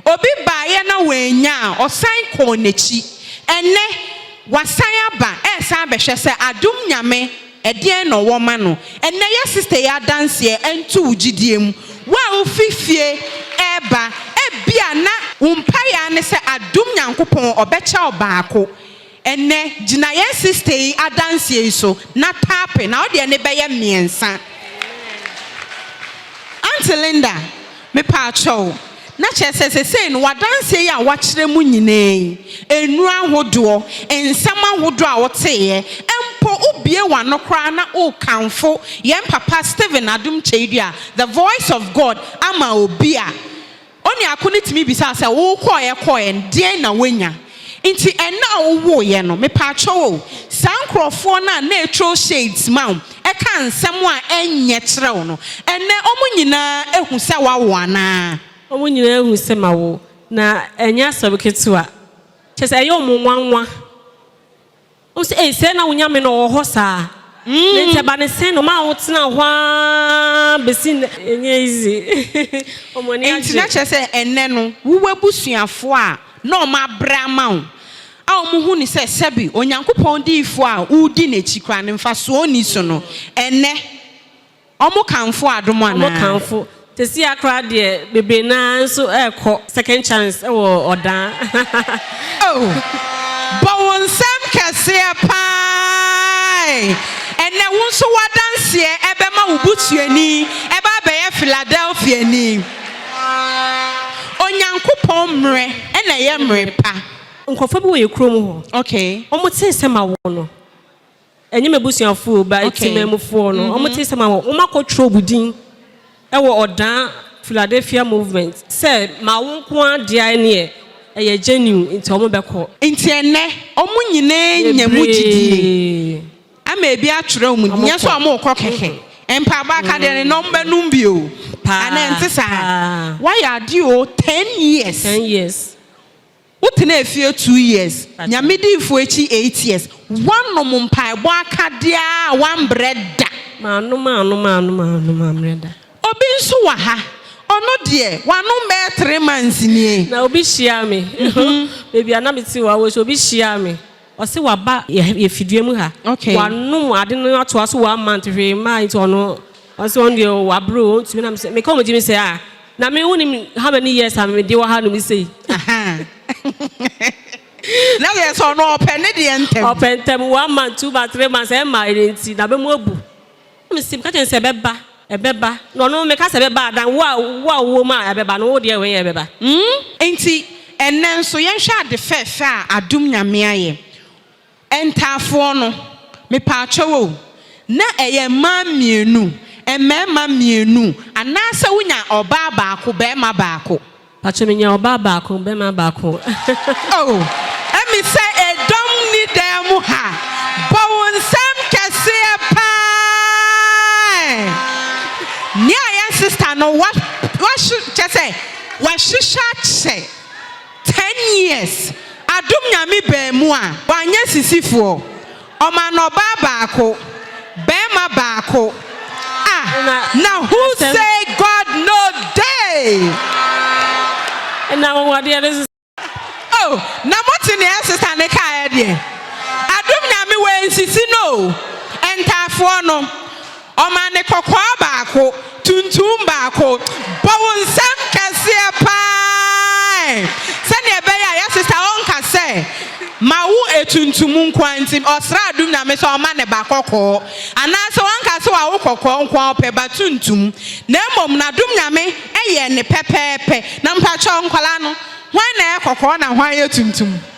[SPEAKER 1] Obi baeɛ na wannya a, ɔsan kɔɔ n'akyi. Ɛnnɛ, wasan aba resan abɛhwɛ sɛ adom Nyame ɛdeɛn na ɔwɔ ma no. Ɛnnɛ yɛ sista yi adanseɛ nto wo gyidie mu. Wo a wofi fie reba, ebia na wo mpaeɛ ara ne sɛ adom Nyankopɔn ɔbɛkyɛ wo baako. Ɛnnɛ, gyina yɛn sista yi adanseɛ yi so na tape na wodeɛ no bɛyɛ mmiɛnsa. Aunty Linda, me paakyɛ wo, na kyerɛ sɛ sesei no w'adanseɛ yi a woakyerɛ mu nyinaa yi, nnuro ahodoɔ, nsɛm ahodoɔ a woteeɛ, mpo wobue w'ano koraa na wokamfo yɛn papa Stephen Adom Kyei-Duah, the voice of God ama obi a, Onuaako no tumi bisaa sɛ, Wo kɔeɛ kɔeɛ no, deɛn na woanya? Enti ɛnna a wowoeɛ no, mepaakyɛw o, saa nkurɔfoɔ no a na ɛtwerɛ shades ma wo, ɛka nsɛm a ɛnyɛ kyerɛ wo no, ɛnnɛ wɔn nyinaa ahu sɛ wɔawo anaa? Wɔn nyinaa ahu
[SPEAKER 2] sɛ mawo, na ɛnyɛ asɛm ketewa. Kyerɛ sɛ, ɛyɛ wɔn nwanwa. Ose, Ei, sɛɛ na wo Nyame no ɔwɔ hɔ saa? Ne ntɛba ne sɛn na ɔmaa wo tenaa hɔ aa besi nnɛ? Ɛnyɛ easy. Wɔn ani agye. Enti na kyerɛ sɛ
[SPEAKER 1] ɛnnɛ no, wo w'abusuafoɔ a na wɔabrɛ ama wo a wɔhu no sɛ sɛbe Onyankopɔn diyifoɔ a woredi n'akyi koraa no mfasoɔ nni so no, ɛnnɛ, Wɔkamfo adom anaa? Wɔkamfo.
[SPEAKER 2] Sesia koraa deɛ bebree no ara nso rekɔ second chance wɔ ɔdaa. Oh!
[SPEAKER 1] Bɔ wo nsam kɛseɛ paa e! Ɛnnɛ wo nso w'adanseɛ bɛma wo busuani ba abɛyɛ Philadelphiani. Onyankopɔn mmerɛ na ɛyɛ mmerɛ pa. Nkurɔfoɔ bi wɔ yɛn
[SPEAKER 2] kurom hɔ. Okay. Wɔtee
[SPEAKER 1] sɛ mawo
[SPEAKER 2] no. Ɛnyɛ m'abusuafoɔ o, but temanmufoɔ no, wɔte sɛ ma wɔn akɔtwerɛ wo din wɔ ɔdaa Philadelphia movement sɛ ma wo nko ara dea neɛ ɛyɛ genuine nti wɔbɛkɔ. Nti ɛnnɛ
[SPEAKER 1] wɔn nyinaa nya mu gyidie ama ebi atwerɛ wɔn din, nyɛ sɛ wɔrekɔ kɛkɛ. Mpaebɔ aka deɛ no na wɔbɛnom bi o, anaa ɛnte saa? Woayɛ adeɛ o, ten years.
[SPEAKER 2] Wo tenaa
[SPEAKER 1] fie two years, Nyame diifoɔ akyi eight years, woanom mpaebɔ akadeɛ a woambrɛ da. Manom a
[SPEAKER 2] anom a anom a anom amrɛ da. Obi
[SPEAKER 1] nso wɔ ha, ɔno deɛ, wanom bɛyɛ three months nie. Na obi hyiaa me,
[SPEAKER 2] baabi a na mete wɔ Awɔsu, obi hyiaa me. Ɔse waba yɛ fidua mu ha wanom ade no atoa so one month hwee mmaa nti ɔno ɔse ɔno deɛ wabre o ɔntumi na mesɛ meka ɔmo gye me sɛ ah na me wonim how many years a mede wɔ ha nom sei.
[SPEAKER 1] Na yɛ sɛ ɔno ɔpɛ ne deɛ ntɛm. Ɔpɛ ntɛm one
[SPEAKER 2] month two month three months ɛmma ɛnɛ nti na bɛmu abu. Me se, meka kyerɛ no sɛ ɛbɛba, ɛbɛba, na ɔno meka sɛ ɛbɛba a, dan wo a, wo a wowɔ mu a ɛbɛba no, wo deɛ wei nyɛ ɛbɛba. Humm. Enti,
[SPEAKER 1] ɛnnɛ nso, yɛnhwɛ ade fɛɛfɛ a adom Nyame ayɛ. Ntaafoɔ no, mepaakyɛw o, na ɛyɛ mmaa mmienu, mmarima mmienu, anaasɛ wonya ɔbaa baako, barima baako. Pacho me nya ɔbaa
[SPEAKER 2] baako bɛma baako.
[SPEAKER 1] Oh ɛmi sɛ ɛdɔm ni dan mu ha bɔ wo nsɛm kɛseɛ paa eh nea yɛn sister no wa wahye kyɛ sɛ wahyehyɛ akyɛ ten years adom nyame baa mu a wanyɛ sisifoɔ Ɔmaa no ɔbaa baako, barima baako. Ah, na who say God no dey? Ɛna
[SPEAKER 2] anwanwadeɛ no sesa. Oh,
[SPEAKER 1] na mote nea ɛsesa ne kaeɛ deɛ? Adom Nyame wei nsisi no o, ntaafoɔ no. Ɔma ne kɔkɔɔ baako, tuntum baako. Bɔ wo nsam kɛseɛ pa ara ɛ! Sɛdeɛ ɛbɛyɛ a yɛ sista ɔnka sɛ, Ma wo etuntum nko ara nti ɔsrɛ adom Nyame sɛ ɔmma ne ba kɔkɔɔ. Anaasɛ wanka sɛ wawo kɔkɔɔ nko ara ɔpɛ ba tuntum. Na mmom n'adom Nyame yɛ ne pɛpɛɛpɛ. Na mpakyɛw nkwadaa no, hwan na ɛyɛ kɔkɔɔ na hwan yɛ tuntum?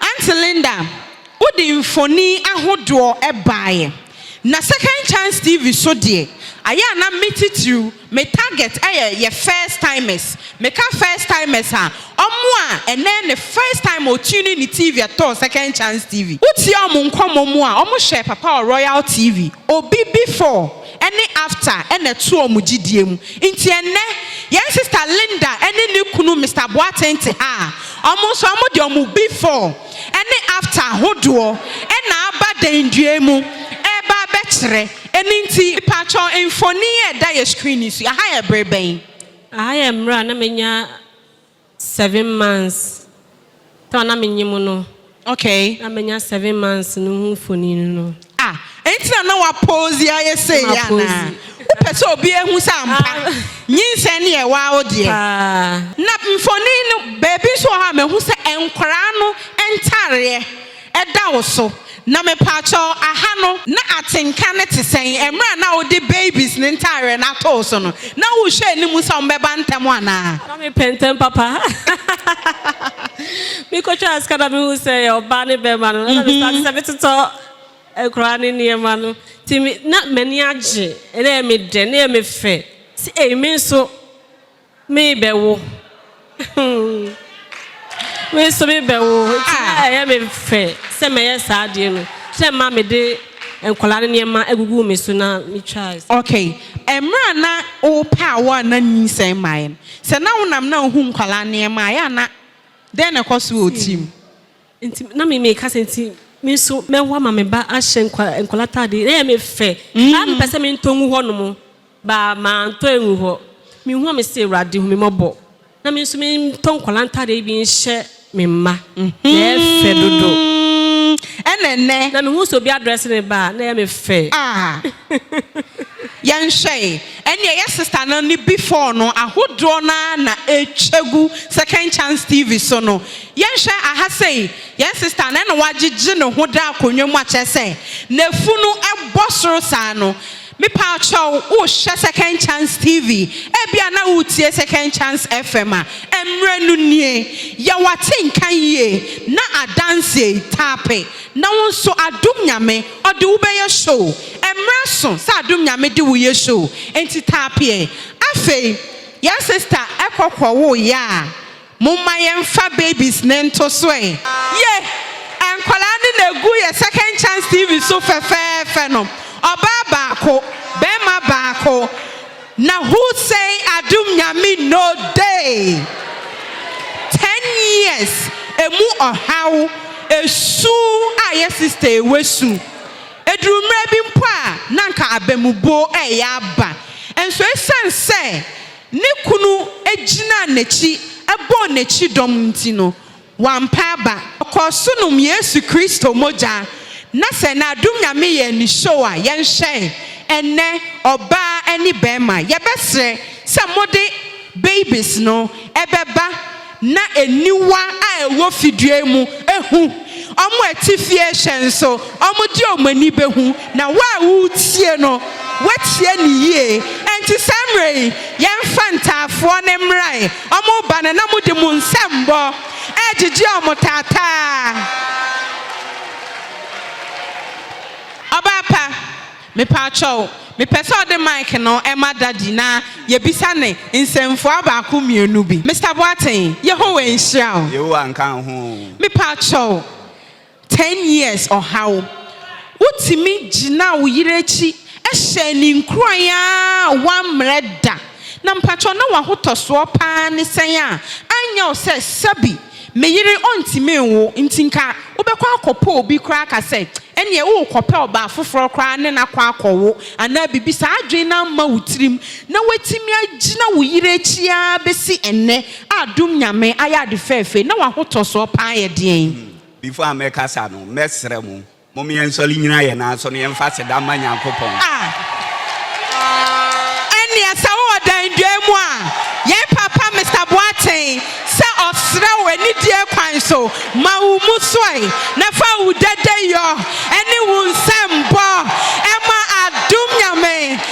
[SPEAKER 1] Aunty Linda, wode mfoni ahodoɔ baeɛ. Na Second Chance TV so deɛ, ayɛ a na me titiriw, me target yɛ yɛ first timers. Meka first timers a, wɔn a ɛnnɛ yɛ ne first time ɔ tune in ne TV ɛtɔɔ Second Chance TV. Wotie wɔn nkɔmmɔ mu a, wɔhyɛɛ Papa wɔ Royal TV, Obi before, ne Afta na ɛto wɔn gyidie mu. Nti ɛnnɛ, yɛn sista Linda ne ne kunu Mister Boateng te ha a, wɔn nso wɔn de wɔn Before ne Afta hodoɔ na aba dɛndua mu reba abɛkyerɛ. Ɛno nti. Mpakyɛ, mfonin a ɛda yɛn screen yi so yi, aha yɛ bere bɛn? Aha yɛ mmerɛ
[SPEAKER 2] a na manya Seven months time a na me nye mu no. Okay. Na me
[SPEAKER 1] nya seven
[SPEAKER 2] months no ho mfonini no. Ah enti na
[SPEAKER 1] na wa pose ayɛ sei yɛ anaa? Wo pɛ sɛ obi ehu sɛ ampa nyinsɛn no yɛ waa wo deɛ? Paa. Na mfonini no baabi nso wɔ hɔ a mahu sɛ nkwadaa no ntaareɛ. da wo so. Na mepaakyɛw, aha no, na atenka no te sɛn? Mmerɛ a na wode babies no ntaareɛ no ato wo so no, na wohwɛ anim sɛ wɔbɛba ntɛm anaa? Na mepɛ ntɛm papa.
[SPEAKER 2] Mekɔtwaa sika na mehuu sɛ ɛyɛ ɔbaa ne barima no, ɛna mestarte sɛ metotɔ nkwadaa no nneɛma no. Nti me, na m'ani agye, na ɛyɛ me dɛ, na ɛyɛ me fɛ. Sɛ ei, me nso. Me bɛ wo. Me nso me bɛ wo. Nti na ah. ɛyɛ me fɛ sɛ mɛyɛ saa adeɛ no. Sɛ mma me de nkwadaa no nneɛma agugu me so na me twa. Okay.
[SPEAKER 1] Ɛmira na wo pɛ a wo a na nyinsɛn mmaeɛ no. Sɛ na wo nam na ohu nkwadaa nneɛma a yɛ a na dɛn na ɛkɔ so wɔ wo tirim? Nti na
[SPEAKER 2] me meka sɛ nti me nso mɛwo ama me ba ahyɛ nkwadaa ataadeɛ. Na ɛyɛ me fɛ. Saa mepɛ sɛ mentɔ ngu hɔnom. Ba mantɔ angu hɔ. Mehu a mese Awurade hu me mmɔbɔ. Na me nso mentɔ nkwadaa ntaadeɛ yi bi nhyɛ me mma. Na ɛyɛ fɛ dodo. Ɛna
[SPEAKER 1] ɛnnɛ. Na mehu sɛ obi
[SPEAKER 2] adrɛse ne ba a, na ɛyɛ me fɛ. Ah! Yɛnhwɛ e. Ɛnneɛ
[SPEAKER 1] yɛ sista no ne before no ahodoɔ no ara na ɛretwa gu Second Chance TV so no. Yɛnhwɛ aha sei, yɛn sista no na wagyegye ne ho da akonnwa mu akyerɛ sɛ n'afunu bɔ soro saa no. Mepaakyɛw, wohwɛ Second Chance TV? Ebia na woretie Second Chance FM a mmere no nie. Yɛ w'ate nka yie na adanse yi, tape na wo nso Adom Nyame ɔde wo bɛyɛ show. Mmere aso sɛ Adom Nyame de wo yɛ show, enti tape ɛ. Afei, yɛn sista kɔ kɔwoo yɛ a, Momma yɛmfa babies no nto so ɛ. Yeh! Nkwadaa no na ɛgu yɛ Second Chance TV so fɛfɛɛfɛ no. Ɔbaa baako, barima baako. Na who say Adom Nyame no day? Ten years, ɛmu ɔhaw, ɛsu a yɛ sister yi wasu. Ɛduru mmerɛ bi mpo a na anka abamubuo reyɛ aba. Nso ɛsiane sɛ. Ne kunu gyinaa n'akyi bɔɔ n'akyi dɔm nti no, wampa aba. Ɔkɔɔ so nom Yesu Kristo mogya, na sɛ n'adom Nyame yɛɛ no show a, yɛnhwɛe. Ɛnnɛ, ɔbaa ne bɛrima, yɛbɛsrɛ sɛ mode babies no bɛba na aniwa a ɛwɔ fidua mu hu, wɔn a ɛte fie hyɛ nso, wɔde wɔn ani bɛhu, na wo a woretie no, woatie no yie. Enti saa mmerɛ yi, yɛmfa ntaafoɔ no mmra ɛ, wɔreba no, na mode mo nsɛmmɔ regyegye wɔn taataa. Ɔbaa pa. Mepaakyɛw, mepɛ sɛ ɔde mic no ma Daddy na yɛbisa no nsɛmfua baako mmienu bi. Mister Boateng, Yehowa nhyira wo. Yehowa nka wo ho o.
[SPEAKER 5] Mepaakyɛw,
[SPEAKER 1] ten years ɔhaw, wotumi gyinaa wo yere akyi hyɛɛ no nkuran ara a woammrɛ da. Na mpaakyɛw na w'ahotɔsoɔ paa ne sɛn a anyɛ wo sɛ sɛbi? Me yere ɔntumi nwo nti nka wobɛkɔ akɔpɛ obi koraa ka sɛ ɛneɛ worekɔpɛ ɔbaa foforɔ koraa ne no akɔ akɔwo anaa biribi saa adwene no amma wo tirim na woatumi agyina wo yere akyi ara bɛsi ɛnnɛ a dom Nyame ayɛ ade fɛɛfɛɛ na wahotɔsoɔ paa yɛ deɛn? Before a mɛkasa
[SPEAKER 5] no mɛsrɛ mo Mom yɛnsɔre nyina yɛn nan so na yɛmfa aseda mma Nyankopɔn. A.
[SPEAKER 1] Ɛnneɛ sɛ wowɔ Danduaa mu a, yɛn papa Mister Boateng sɛ ɔsrɛ wo anidie kwan so, ma wo mmusuae na fa wo dadayɔ ne wo nsɛmbɔ ma adom Nyame.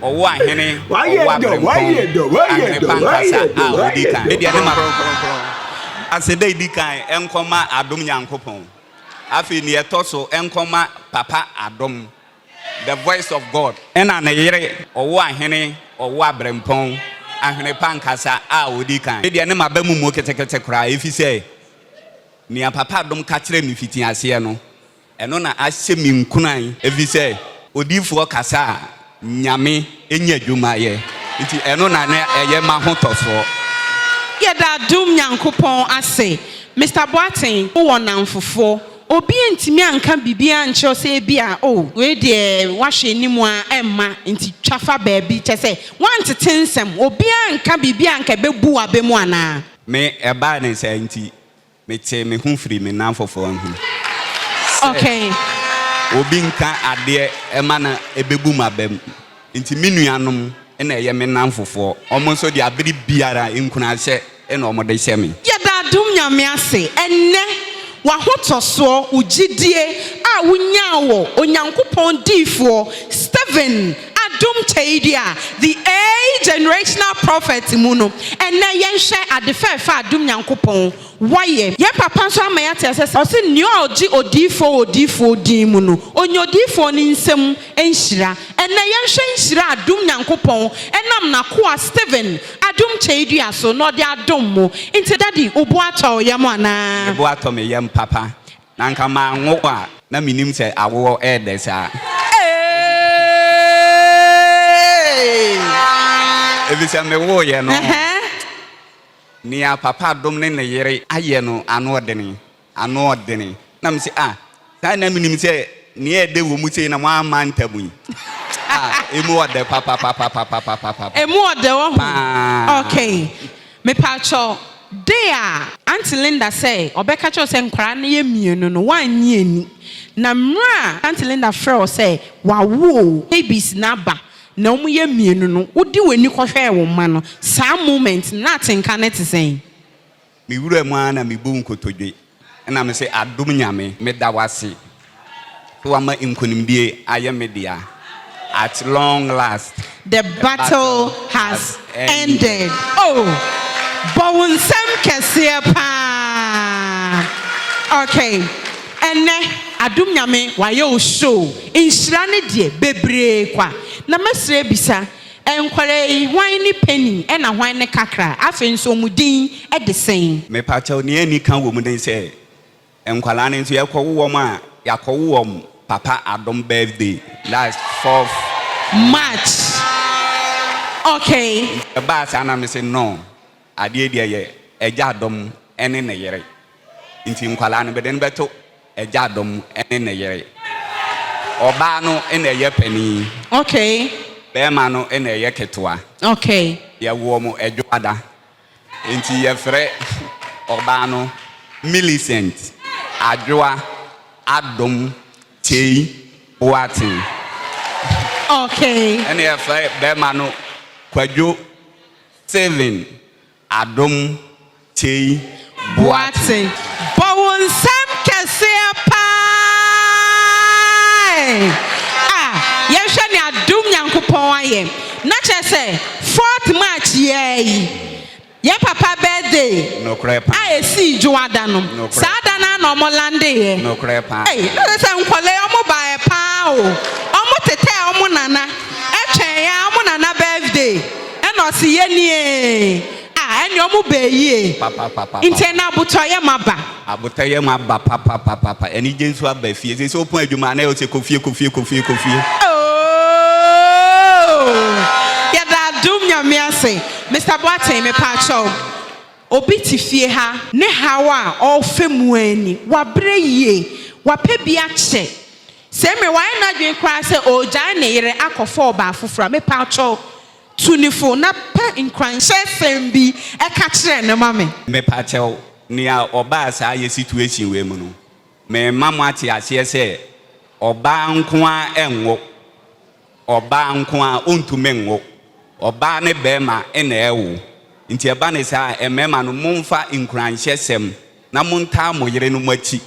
[SPEAKER 5] ɔwɔ ahene ɔwɔ abirɛmpɔn ahene pankasa a odi kan ne deɛ ne ma kronkronkron ase dɛ edi kan nkɔma adom nyankopɔn afei nea ɛtɔ so nkɔma papa adom the voice of God ɛna ne yere ɔwɔ ahene ɔwɔ abirɛmpɔn ahene pankasa a odi kan ne deɛ ne ma ba mu mu ketekete koraa efisɛ nea papa adom ka kyerɛ me fiti aseɛ no Ɛno na ahyɛ me nkuran, ɛfiri sɛ odiyifoɔ kasa a, Nyame nya adwuma yɛ, nti ɛno na na ɛyɛ m'ahotɔsoɔ. Yɛda
[SPEAKER 1] dom Nyankopɔn ase. Mister Boateng, wo wɔ nnamfofoɔ. Obi antumi anka biribi ankyerɛ wo sɛ ebi a oh, wei deɛ woahwɛ anim a ɛmma nti twa fa baabi, kyerɛ sɛ woantete nsɛm? Obiara anka biribi a anka ɛbɛbu wo aba mu anaa? Me ɛbaa ne
[SPEAKER 5] saa nti, Metee me ho firii me nan fɔfɔɔ no ho sɛ obi nka adeɛ ɛma no ɛbɛbu m'abam. Nti me nuanom na ɛyɛ me nan fofoɔ. Wɔn nso deɛ abere biara nkunahyɛ na wɔn de hyɛ me. Yɛda adom Nyame
[SPEAKER 1] ase ɛnnɛ w'ahotɔsoɔ, wo gyidie a wonyaa wɔ Onyankopɔn diyifoɔ Stephen Adom Kyɛyidi a The Age Generational Prophet mu no, ɛnnɛ yɛnhwɛ ade fɛɛfɛ a Adom Nyankopɔn wayɛ. Yɛn papa nso ama yɛate aseɛ sɛ ɔse nea ɔgye odiyifoɔ wɔ odiyifoɔ din mu no, ɔnya odiyifoɔ no nsam nhyira. Ɛnnɛ yɛnhwɛ nhyira a Adom Nyankopɔn nam n'akoa Stephen Adom Kyɛyidua so na ɔde adom mo. Nti Daddy, wo bo atɔ wo yam anaa? Me bo atɔ me yam
[SPEAKER 5] papa. Na anka manwo a na mennim sɛ awoɔ ɛɛdɛ saa. Efisɛ mewoeɛ no, nea papa dom ne ne yere ayɛ no anoɔdene, anoɔdene. Na mese, ah, saa de na menim sɛ nea ɛɛdɛ wɔ mu sei na moamma ntam yi. Ah, emu ɔdɛ papapapapapapapapa. Emu ɔdɛ wɔ
[SPEAKER 1] ho. Paa. Okay. Mepaakyɛw, dee a. Aunty Linda sɛɛ ɔbɛka kyerɛ wo sɛ nkwadaa no yɛ mmienu no woannye anni. Na mmerɛ a Aunty Linda frɛɛ wo sɛ wawo o, babies no aba na wɔn yɛ mmienu no, wode w'ani kɔhwɛɛ wo mma no, saa moment no na atenka no te sɛn? Me wuram
[SPEAKER 5] ara na mebuu nkotodwe. Ɛna mese adom Nyame meda wase sɛ wama nkonimdie ayɛ me dea at long last the battle
[SPEAKER 1] has ended oh bɔ wo nsam kɛseɛ paa okay ɛnɛ adom Nyame wayɛ wo show nhyira ne deɛ bebree kwa na mɛsrɛ bisa Nkwadaa yi hwan ne panin ɛna hwan ne kakra afei nso ɔmu din ɛde sɛn. Mepakyɛw nea ani
[SPEAKER 5] ka wɔ mu ne sɛ nkwadaa no nso yɛkɔ wo wɔn a yɛakɔ wo wɔn papa adom birthday last fourth. March
[SPEAKER 1] okay. Nti ɛbaa saa
[SPEAKER 5] na mese no. Adeɛ deɛ yɛ agya dɔ mu ne ne yere nti nkwadaa no bɛde no bɛto agya dɔ mu ne ne yere. Ɔbaa no na ɛyɛ panin. Okay.
[SPEAKER 1] Bɛrima no
[SPEAKER 5] na ɛyɛ ketewa. Okay.
[SPEAKER 1] Yɛwo wɔn
[SPEAKER 5] adwoada nti yɛfrɛ ɔbaa no Millicent Adwoa Adom Kyei Boateng.
[SPEAKER 1] Okay. Ɛna yɛfrɛ
[SPEAKER 5] bɛrima no Kwadwo Stephen Adom Tei Boateng. Bɔ
[SPEAKER 1] wo nsam kɛseɛ paa a yɛnhwɛ nea dom Nyankopɔn ayɛ na kyerɛ sɛ fourth March yiaa yi yɛn papa birthday a ɛsii
[SPEAKER 5] dwoada
[SPEAKER 1] no saa da no ara na ɔmo landeeɛ ei na kyerɛ
[SPEAKER 5] sɛ nkɔlaa
[SPEAKER 1] yi ɔmo baeɛ paa o ɔmo tetɛɛ ɔmo nana ɛtwɛn ɔmo nana birthday. Ɛna ɔse yɛnie a ɛneɛ ɔmo bɛɛ yie Papapapapa. nti ɛna
[SPEAKER 5] abotɔ yɛ
[SPEAKER 1] ma ba. Abotɔ yɛ ma ba papapapapa.
[SPEAKER 5] Anigye nso aba fie. Seesei wopɔn adwuma a na ɛyɛ wo sɛ kɔ fie kɔ fie kɔ fie kɔ fie. Ooh
[SPEAKER 1] yɛda adom Nyame ase. Mister Boateng mepaakyɛw obi te fie ha. Ne haw a ɔɔfɛ mu aa ni. Wabrɛ yie. Wapɛ bi akyɛ. Sɛ mmere wayɛ n'adwene koraa sɛ ɔregyae ne yere akɔfa ɔbaa foforo a, mepatwɔw, tu no fo na pɛ nkuranhyɛsɛm bi ka kyerɛ no ma me. Mepakyɛw,
[SPEAKER 5] nea ɔbaa saa yɛ situation wei mu no, merema mo ate aseɛ sɛ, ɔbaa nko ara ɛnwo, ɔbaa nko ara ɔntumi nwo, ɔbaa ne barima na ɛwo, nti ɛba no saa a, mmarima no momfa nkuranhyɛsɛm na montaa mo yerenom akyi.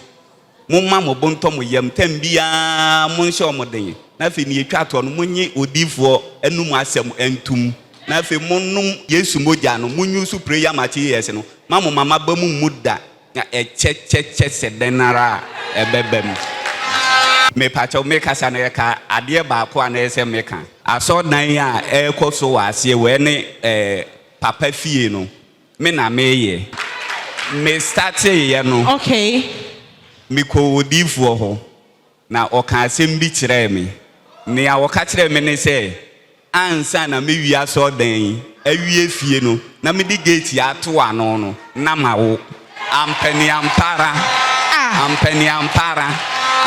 [SPEAKER 5] Momma mo bo ntɔ mo yam, tɛm biara monhyɛ wɔn den, na afei nea etwa toɔ no, monnye odiyifoɔ anum asɛm ntom, na afei monnom Yesu mogya no, monnyi nso prayer materials no, ma mo mama ba mu mmu da, na ɛkyɛ kyɛ kyɛ sɛ dɛn ara a, ɛbɛba mu. Mepakyɛw, mekasa na ɛka adeɛ baako a na ɛsɛ sɛ meka. Asɔrdan a ɛrekɔ so wɔ aseɛ wɔ ɛne ɛɛ papa fie no, Me na meyɛ. Me startee yɛ no. Okay.
[SPEAKER 1] Me kɔɔ
[SPEAKER 5] odiifoɔ hɔ na ɔkaa asɛm bi kyerɛɛ me. Nea ɔka kyerɛɛ me ne sɛ ansa na me wie asɔrdan yi awie fie no na me de gate yi ato ano no na ma wo. Ampɛ ne ampa ara. Ah. Ampɛ ne ampa ara.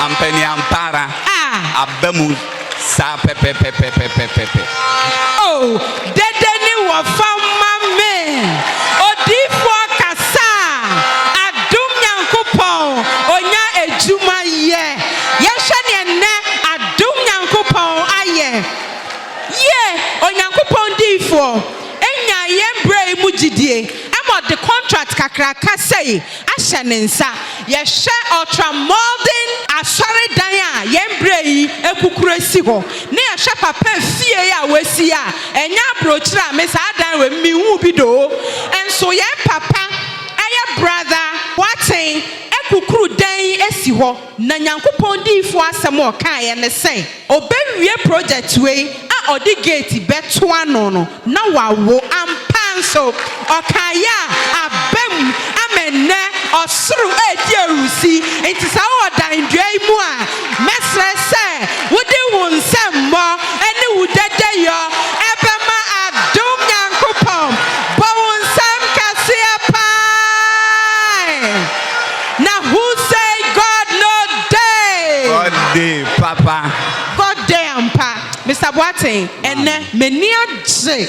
[SPEAKER 5] Ampɛ ne ampa ara. Ah. Aba mu. Saa pɛpɛpɛpɛpɛpɛpɛ. Oh,
[SPEAKER 1] dede ne wɔfa ma me. Odiyifoɔ kasa a, adom Nyankopɔn, ɔnya adwuma yɛ. Yɛnhwɛ neɛ nnɛ adom Nyankopɔn ayɛ. Yie, Onyankopɔn diyifoɔ, ɛnyaa yɛn berɛ yi mu gyidie ma ɔde contract kakraka sei ahyɛ ne nsa. Yɛhwɛ ɔltramɔden asɔredan a yɛn berɛ yi akukuru asi hɔ, ne yɛhwɛ papa fie yi a wɔasi a, ɛnyɛ abrokyire a me saa dan wei mu menhuu bi da o. Nso yɛn papa, ɛyɛ Brother Boateng, akukuru dan yi asi hɔ. Na Nyankopɔn diyifoɔ asɛm a ɔkaeɛ ne sɛ, Ɔbɛwie project wei a ɔde gate bɛto ano no, na wawo. Ampa nso, ɔkaeɛ a aba mu ama ɛnnɛ ɔsoro redi ahurusi. Enti saa Ɔdan dua yi mu a, mɛsrɛ sɛ wode wo nsɛmmɔ ne wo dadayɔ bɛma adom Nyankopɔn. Bɔ wo nsam kɛseɛ paa. Na who say God no dey? God dey
[SPEAKER 5] papa. God dey
[SPEAKER 1] ampa. Mister Boateng, ɛnnɛ, m'ani agye.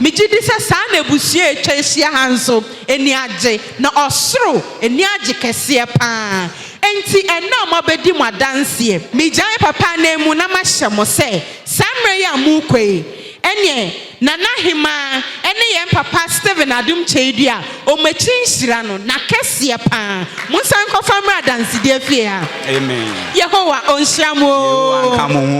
[SPEAKER 1] Megye di sɛ saa na abusua a atwa ahyia ha nso ani agye, na ɔsoro ani agye kɛseɛ pa ara. Enti, ɛnnɛ a moabɛdi mo adanseɛ, megyae papa ananmu na mahyɛ mo sɛ, saa mmerɛ yi a morekɔ yi, Ɛneɛ Nana Hemaa ne yɛn papa Steven Adom Kyeidua a wɔn akyiri nhyira no na kɛseɛ paa. Monsan nkɔfa mmra adansedie fie ha. Amen.
[SPEAKER 5] Yehowa
[SPEAKER 1] ɔnhyira mo oo. Yehowa nka mo ho.